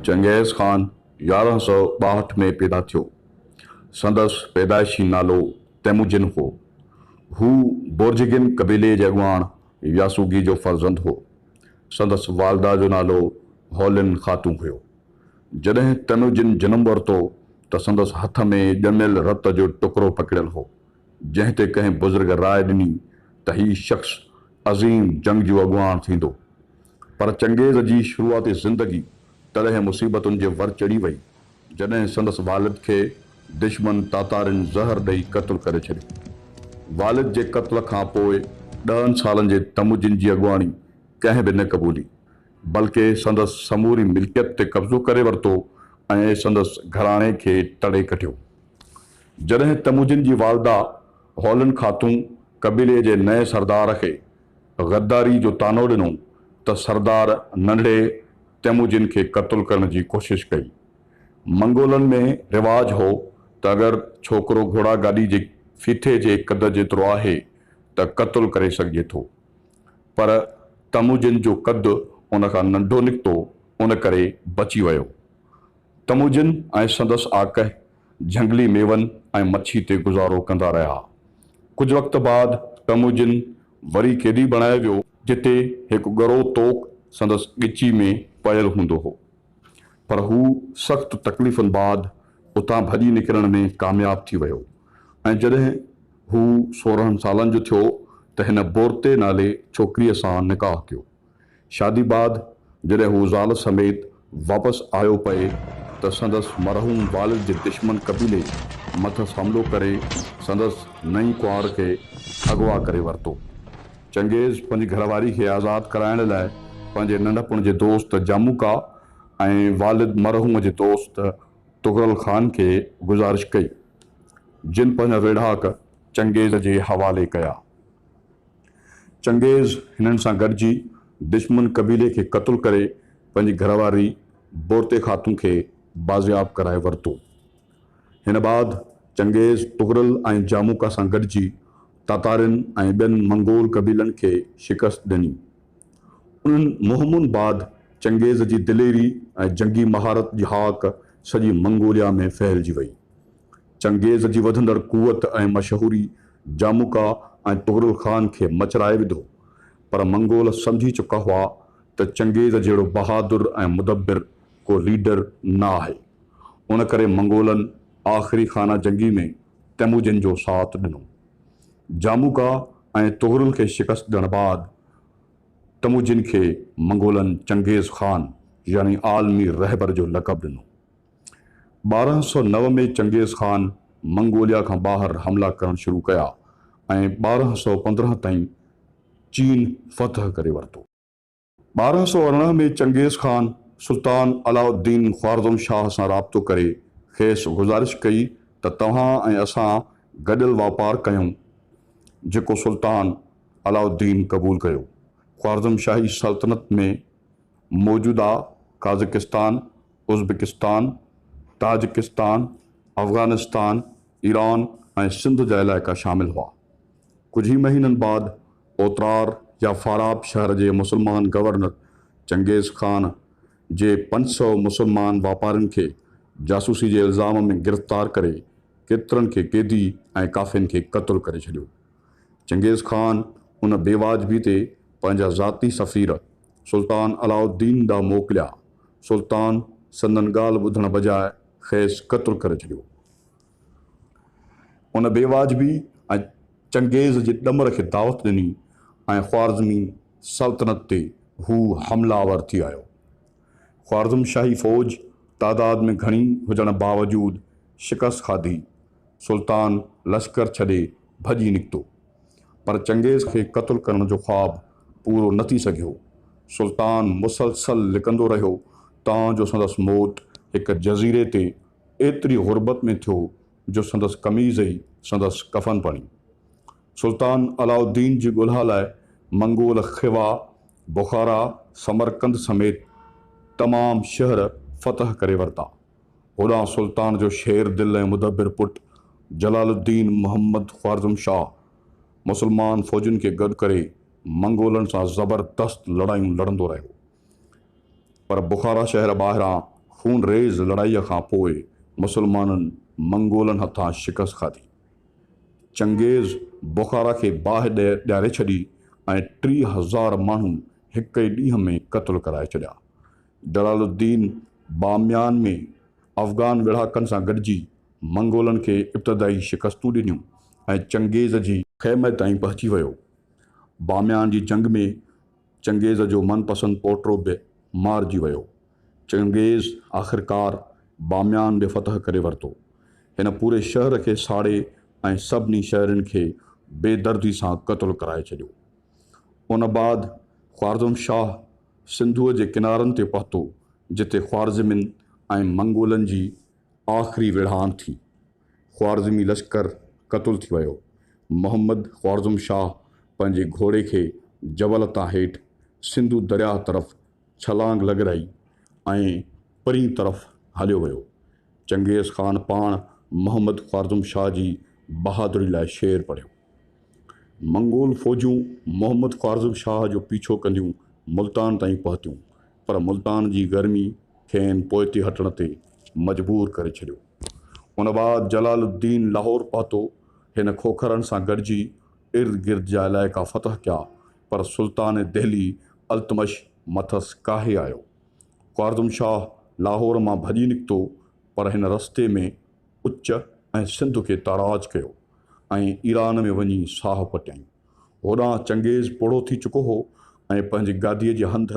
Genghis Khan يارهن سؤ ٻاهٺ ۾ پيدا ٿيو. سندس پيدائشي نالو تيموجن هو. هو بورجگين قبيلي جي اڳواڻ ياسوگي جو فرزند هو. سندس والده جو نالو هولين خاتون هيو. جڏهن تيموجن جنم ورتو ته سندس هٿ ۾ ڄميل رت جو ٽڪرو پڪڙيل هو، جنهن تي ڪنهن بزرگ راء ڏني ته هي شخص عظيم جنگجو اڳواڻ ٿيندو. پر چنگيز جي شروعاتي زندگي تڏهن مصيبتن جي ور چڙهي وئي، جڏهن سندس والد کي دشمن تاتارين زهر ڏئي قتل ڪري ڇڏيو. والد جي قتل کان پوء ڏهن سالن جي تموجن جي اڳواڻي ڪنهن به نه قبولي، بلڪه سندس سموري ملڪيت تي قبضو ڪري ورتو ۽ سندس گهراڻي کي تڙي ڪڍيو. جڏهن تموجن جي والده هولن خاتون قبيلي جي نئين سردار کي غداري جو طعنو ڏنو ته سردار ننڍڙي تيموجن کي قتل ڪرڻ جي ڪوشش ڪئي. منگولن ۾ رواج هو ته اگر ڇوڪرو گهوڙا گاڏي جي ڦيٿي جي قد جيترو آهي ته قتل ڪري سگهجي ٿو. پر تموجن جو قد ان کان ننڍو نڪتو ان ڪري بچي ويو. تموجن ۽ سندس آقهه جهنگلي ميون ۽ مڇي تي گذارو ڪندا رهيا. ڪجهه وقت بعد ٽموجن وري قيدي بڻايو ويو، جتي هڪ ڳرو توڪ سندس ڳچي ۾ پيل هوندو هو، پر هو سخت تڪليفن بعد اتان ڀڄي نڪرڻ ۾ ڪامياب ٿي ويو ۽ جڏهن هو سورهن سالن جو ٿيو ته هن بورتي نالي ڇوڪريء سان نڪاح ڪيو. شادي بعد جڏهن هو زال سميت واپس آيو پئي ته سندس مرحوم والد جي دشمن قبيلي مٿس حملو ڪري سندس نئين ڪنوار کي اغوا ڪري ورتو. چنگيز پنهنجي گهر واري کي آزاد ڪرائڻ لاء پنهنجي ننڍپڻ جي دوست جاموڪا ۽ والد مرحوم جي دوست طغرل خان کي گذارش ڪئي جن پنهنجا ويڙهاڪ چنگيز جي حوالي ڪيا. چنگيز هنن سان گڏجي دشمن قبيلي کي قتل ڪري پنهنجي گهرواري بورتي خاتون کي بازياب ڪرائي ورتو. هن بعد چنگيز طغرل ۽ جاموڪا سان گڏجي تاتارين ۽ ٻين منگول قبيلن کي شڪست ڏني. انهن مهمن بعد چنگيز جي دليري ۽ جنگي مهارت جي هاڪ سڄي منگوليا ۾ ڦهلجي وئي. چنگيز جي وڌندڙ قوت ۽ مشهوري جاموڪا ۽ طغرل خان کي مچرائي وڌو، پر منگول سمجهي چڪا هئا ته چنگيز جهڙو بهادر ۽ مدبر ڪو ليڊر نه آهي. ان ڪري منگولن آخري خانه جنگي ۾ تيموجن جو ساٿ ڏنو. جاموڪا ۽ طغرل کي شڪست ڏيڻ بعد تموجن کي منگولن چنگيز خان يعني عالمي رهبر جو لقب ڏنو. ٻارهن سؤ نو ۾ چنگيز خان منگوليا کان ٻاهر حملا ڪرڻ شروع ڪيا ۽ ٻارهن سؤ پندرهن تائين چين فتح ڪري ورتو. ٻارهن سؤ ارڙهن ۾ چنگيز خان سلطان علاء الدين خوارزم شاهه سان رابطو ڪري کيس گذارش ڪئي ته توهان ۽ اسان گڏيل واپار ڪيون، جيڪو سلطان علاء الدين قبول ڪيو. خوارزم شاهي سلطنت ۾ موجوده Kazakhstan, Uzbekistan, Tajikistan, Afghanistan, Iran ۽ Sindh جا علائقا شامل هئا. ڪجهه ئي مهينن بعد اوترار يا فاراب شهر جي مسلمان گورنر چنگيز خان جي پنج سؤ مسلمان واپارين کي جاسوسي جي الزام ۾ گرفتار ڪري ڪيترن کي قيدي ۽ ڪافين کي قتل ڪري ڇڏيو. چنگيز خان ان بيواجبي تي پنهنجا ذاتي سفير، سلطان علاء الدين ڏانهن موڪليا. سلطان سندن ڳالهه ٻڌڻ بجاء کيس قتل ڪري ڇڏيو. ان بيواجبي ۽ چنگيز جي ڏمر کي دعوت ڏني ۽ خوارزمي سلطنت تي هو حمله آور ٿي آيو. خوارزم شاهي فوج تعداد ۾ گهڻي هجڻ باوجود شڪست کاڌي. سلطان لشڪر ڇڏي ڀڄي نڪتو. پر چنگيز کي قتل ڪرڻ جو خواب پورو نه ٿي سگهيو. سلطان مسلسل لڪندو رهيو تان جو سندس موت هڪ جزيري تي ايتري غربت ۾ ٿيو جو سندس قميض ئي سندس ڪفن بڻي. سلطان علاء الدين جي ڳولها لاء منگول خوا، بخارا، سمرقند سميت تمام شهر فتح ڪري ورتا. هوڏانهن سلطان جو شير دل ۽ مدبر پٽ جلال الدين محمد خوارزم شاهه مسلمان فوجين کي گڏ ڪري منگولن سان زبردست لڙايون لڙندو رهيو پر بخارا شهر ٻاهران خون ريز لڙائيء کان پوء مسلمانن منگولن هٿان شڪست کاڌي. چنگيز بخارا کي باهه ڏياري ڇڏي ۽ ٽي هزار ماڻهو هڪ ئي ڏينهن ۾ قتل ڪرائي ڇڏيا. جلال الدين باميان ۾ افغان ويڙهاڪن سان گڏجي منگولن کي ابتدائي شڪستون ڏنيون ۽ چنگيز جي خيمي تائين پهچي ويو. باميان جي جنگ ۾ چنگيز جو من پسند پوٽرو به مارجي ويو. چنگيز آخرڪار باميان به فتح ڪري ورتو. هن پوري شهر کي ساڙي ۽ سڀني شهرين کي بي دردي سان قتل ڪرائي ڇڏيو. ان بعد خوارزم شاهه سنڌوء جي ڪنارن تي پهتو، جتي خوارزمين ۽ منگولن جي آخري ويڙهاڻ ٿي. خوارزمي لشڪر قتل ٿي ويو. محمد خوارزم شاهه پنهنجي گهوڙي کي جبل تان هيٺ سنڌو درياهه طرف ڇلانگ لڳرائي ۽ پرين طرف هليو ويو. چنگيز خان پاڻ محمد خوارزم شاهه جي بهادري لاء شعر پڙهيو. منگول فوجون محمد خوارزم شاهه جو پيڇو ڪنديون ملتان تائين پهتيون، پر ملتان جي گرمي کين پوئتي هٽڻ تي مجبور ڪري ڇڏيو. ان بعد جلال الدين لاهور پهتو. هن کوکرن سان گڏجي ارد گرد جا علائقا فتح ڪيا، پر سلطان دهلي التمش مٿس ڪاهي آيو. خوارزم شاهه لاهور مان ڀڄي نڪتو، پر هن رستي ۾. اچ ۽ سنڌ کي تاراج ڪيو ۽ ايران ۾ وڃي ساهه پٽيائين. هوڏانهن چنگيز پوڙهو ٿي چڪو هو ۽ پنهنجي گاديء جي هنڌ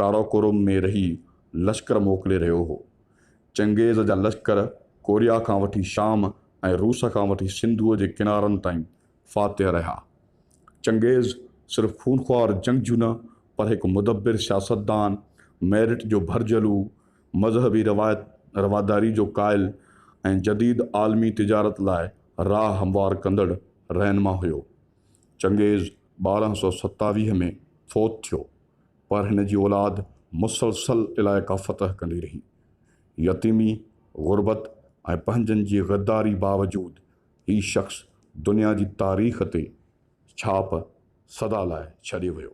ڪاراڪوروم ۾ رهي لشڪر موڪلي رهيو هو. چنگيز جا لشڪر ڪوريا کان وٺي شام ۽ روس کان وٺي سنڌوء جي ڪنارن تائين فاتح رهيا. چنگيز صرف خونخوار جنگجو نه پر هڪ مدبر سياستدان، ميرٽ جو ڀرجهلو، مذهبي روايت رواداري جو قائل ۽ جديد عالمي تجارت لاء راهه هموار ڪندڙ رهنما هيو. چنگيز ٻارهن سؤ ستاويهه ۾ فوت ٿيو، پر هن جي اولاد مسلسل علائقا فتح ڪندي رهي. يتيمي، غربت ۽ پنهنجن جي غداري باوجود هي شخص دنيا جي تاريخ تي ڇاپ سدا لاء ڇڏي ويو.